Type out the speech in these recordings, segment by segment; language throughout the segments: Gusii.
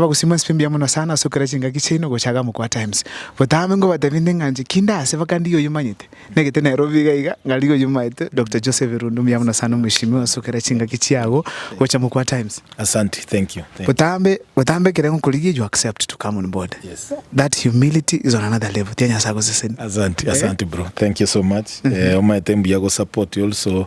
Bagosima nswe mbuya mono sana ase okera chingaki chiaino gocha Agamo Kwa Times. Botambe ngobatebie nde ng'a nchiki nde ase baka ndiye oyomanyete. Negete Nairobi iga iga ng'a riga oyomanyete Doctor Joseph Irundu mbuya mono sana omweshimiwa ase okera chingaki chiago gocha mo Kwa Times. Asanti thank you thank you. Botambe botambe ekere ngokorigia you accept to come on board. Yes. That humility is on another level tiga Nyasaye agosesenie. Asanti asanti bro thank you so much eh omanyete mbuya go support also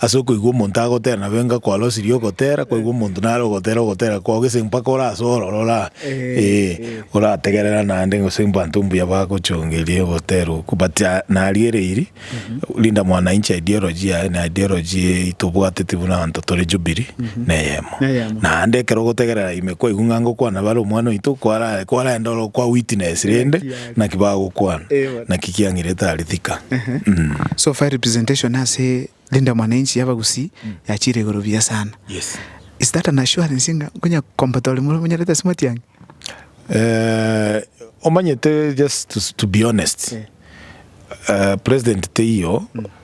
Ase okoigwa omonto agotera nabo enga kwarosirie ogotera, kwaigwa omonto nare ogotera ogotera kwao gese mpaka orase ororo ora ee orategerera naende gose mbanto mbuya bagochongeria ogotera okwo but nariereiri Linda mwana inche ideology yaye na ideology eye tobwateti buna abanto tore Jubilee neyemo Neyemo. naende ekero ogotegerera ime kwaigwa ng'a ngokwana bare omwana oito kwara kwarenda oro kwa witness rende Naki bagokwana? Naki kiang'irete aria thika? Ehe. So far representation ase Linda Mwananchi y'abagusii yachire igoro buya sana. Yes. Is that an assurance ng'a nkonya combat ore more monyarete ase Matiang'i? Eh, omanyete just to, to be honest, eh, president teiyo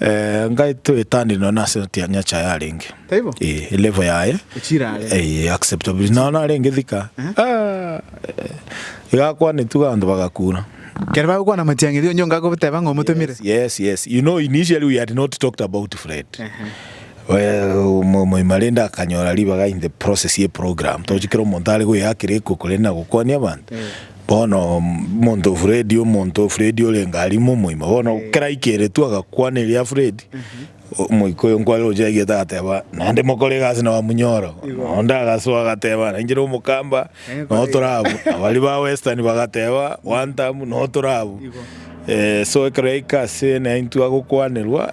Eh, ngai twetanire nonya na ase otiang'a Nyachae arenge. Taibo? Eh, elevo yaye. Echira are. Eh, acceptable. Nonya narenge thika. Ah, eh, egakwanetu abanto bagakura. Kere bagokwana amatiang'iri onye onga agoteba ng'a omotomire. Yes, yes. You know, initially we had not talked about Fred. Well, mo- moima rende akanyora ribaga in the process ye program. Tochikera omonto are goyakera ekoko rende nagokwania abanto. Bono monto Fredi, omonto Fredi orenge aria ime omoima. Bono kera aikeretwe agakwana eria Fredi, omoika oyo nkware gocha yaigete agateba, naende mokore egasi na Wamunyoro. Onde agasoa agateba, nainche na omokamba noo tore abwo. Baria ba Western bagateba, one term noo tore abwo. So ekero yaika ase naintwe agokwanerwa,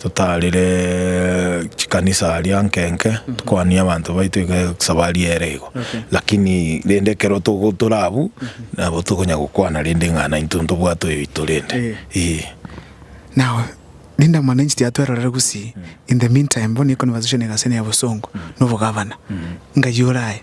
Totaarire chikanisa aria nke nke, tokwanie abanto baito iga esabari ere igo. Lakini rende ekero togo tore abwo, nabo tokonya gokwana rende ng'a naintwe ntobwate oyoito rende. Eeh. Now, Linda Mwananchi tiatwerorere gusii, in the meantime bono eye conversation egase ne ya bosongo, na obogavana, ngaiyo oraye.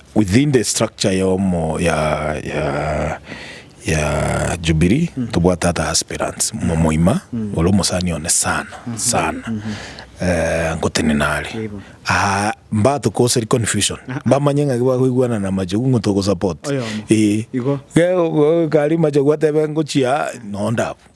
Within the structure ya omo ya ya ya Jubilee tobwate ata aspirants momoima ore omosani one sana sana eh, ngotenena are Yebo. aa mbato koseri confusion bamanye ng'aki bakoigwana na machogu ng'o togosupport Oyomo. eh Igo. Ge- go- kari machogu atebe ngochia nondabu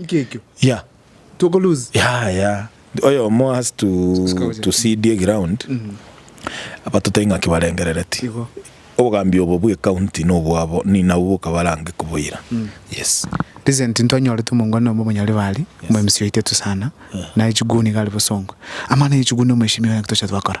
Inki ekio? Yeah. Toko lose. Yeah, yeah. Oyomo has to, to see the ground. Abatotai ng'aki barengerereti. Igo. Obogambi obo bwe county nobwabo ni nabwo bokabarange koboira. Yes. Recent ntwanyorete omongwana nomo omonyori bari omo MC oito etusana naye chiguni gari bosongo amana ye chiguni omoeshimiwa ng'aki tocha twakora.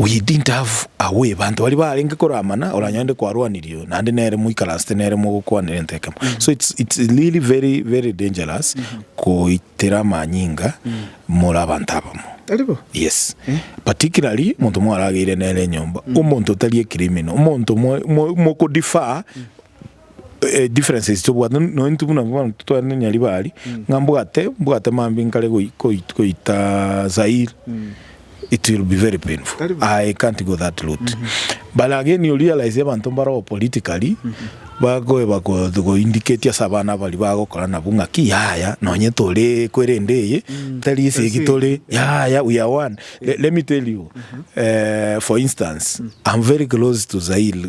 Oyedinto have away banto baria barenge koramana oranyorende kwarwanirio naende nere moikaransete nere mogokwanera ento ekemo so it's, it's really very very dangerous goitera amanyinga more abanto abamo Tari bo? yes particularly omonto mwarageire nere enyomba omonto otari ekirimino omonto mo- mo- mokodefer Differences tobwate no intwe buna abanto tware ne Nyaribari, ng'a mbwate mbwate mambia nkare goi- goi- goita Zaire, it will be very painful. Tari buna. Aye, I can't go that route. But again you realise abanto mbaroo politically, bagoe bago go indicate ase abana baria bagokora nabwo ng'a ki yaya nonye tore kwerende eye, tari ase egi tore, yaya we are one. Le- let me tell you, eh, for instance, I'm very close to Zaire,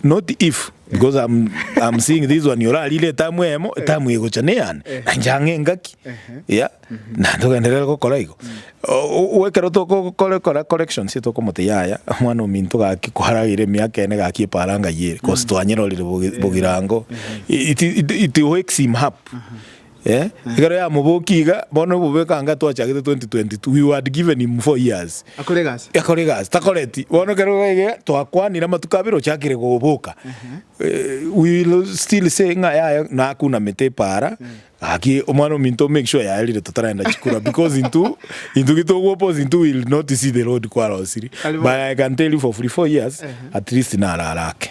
Not if, because I'm, I'm seeing this one orarire etamu eyemo, etamu egocha neyane, na inche ang'e engaki, yeah, na togenderere gokora igo. O- o- o- Ekero tokokora kora corrections ase tokomote yaya, omwana ominto gaki kwaragire emiaka ene gaki eparanga yere, cause twanyerorire bogi- bogirango, it, it, it wakes him up. Eh, ekero yamobokia iga, bono obobe ekanga twachagete 2022, we wad given him four years. Akore egasi. Akore egasi, takoreti. Bono ekero gaiga, twakwanire amatuko abere ochakire goboka. Eh, we will still say ng'a yaye nakunamete epaara, gaki omwana ominto make sure yaerire totarenda chikura because intwe, intwe gitogoposa intwe we will not see the road kwarosirie. Kare bono. But I can tell you for free, four years, at least naro arake.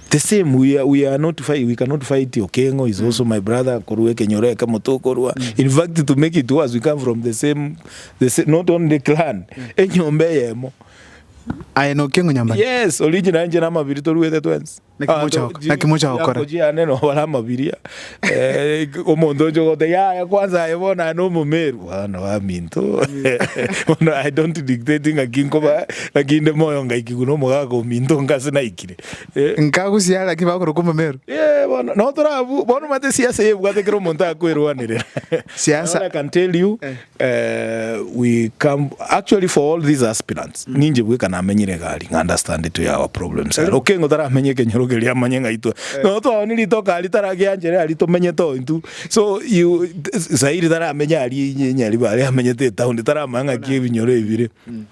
The same we are, we are not fight, we cannot fight Okengo is also my brother korwa ekenyoro ekemo tokorwa in fact to make it worse we come from the same the same, not only clan enyomba eyemo Aye na Okengo nyomba. yes original nje na amabiri toruete twensi Naki Abanto mocha goko- ji- naki mocha gokora? yako jiane no bara amabiria Eh, omonto onche ogote yaya kwanza aye bono aye nomomeru bono baminto bono i don't dictate ngaki nkoba ngaki inde moyo ngaikigwa nomogaka ominto ngase naikire Eh. Nkagusia gaki bakorokwa omomero. Eh, bono no torabu bono mate siasa yebwate kero omonto akwerwanire Siasa. All I can tell you Eh. eh, we come actually for all these aspirants ninje bweka namenyire gari nga understand to our problems are okengo taramenye kenyoro keria amanye ngaitwe no twaoni ritoka ari taragianjere ari tomenye to intu so you zairi taramenya ari inye inye ari bare amenyete town taramanya ngaki ebinyoro ebire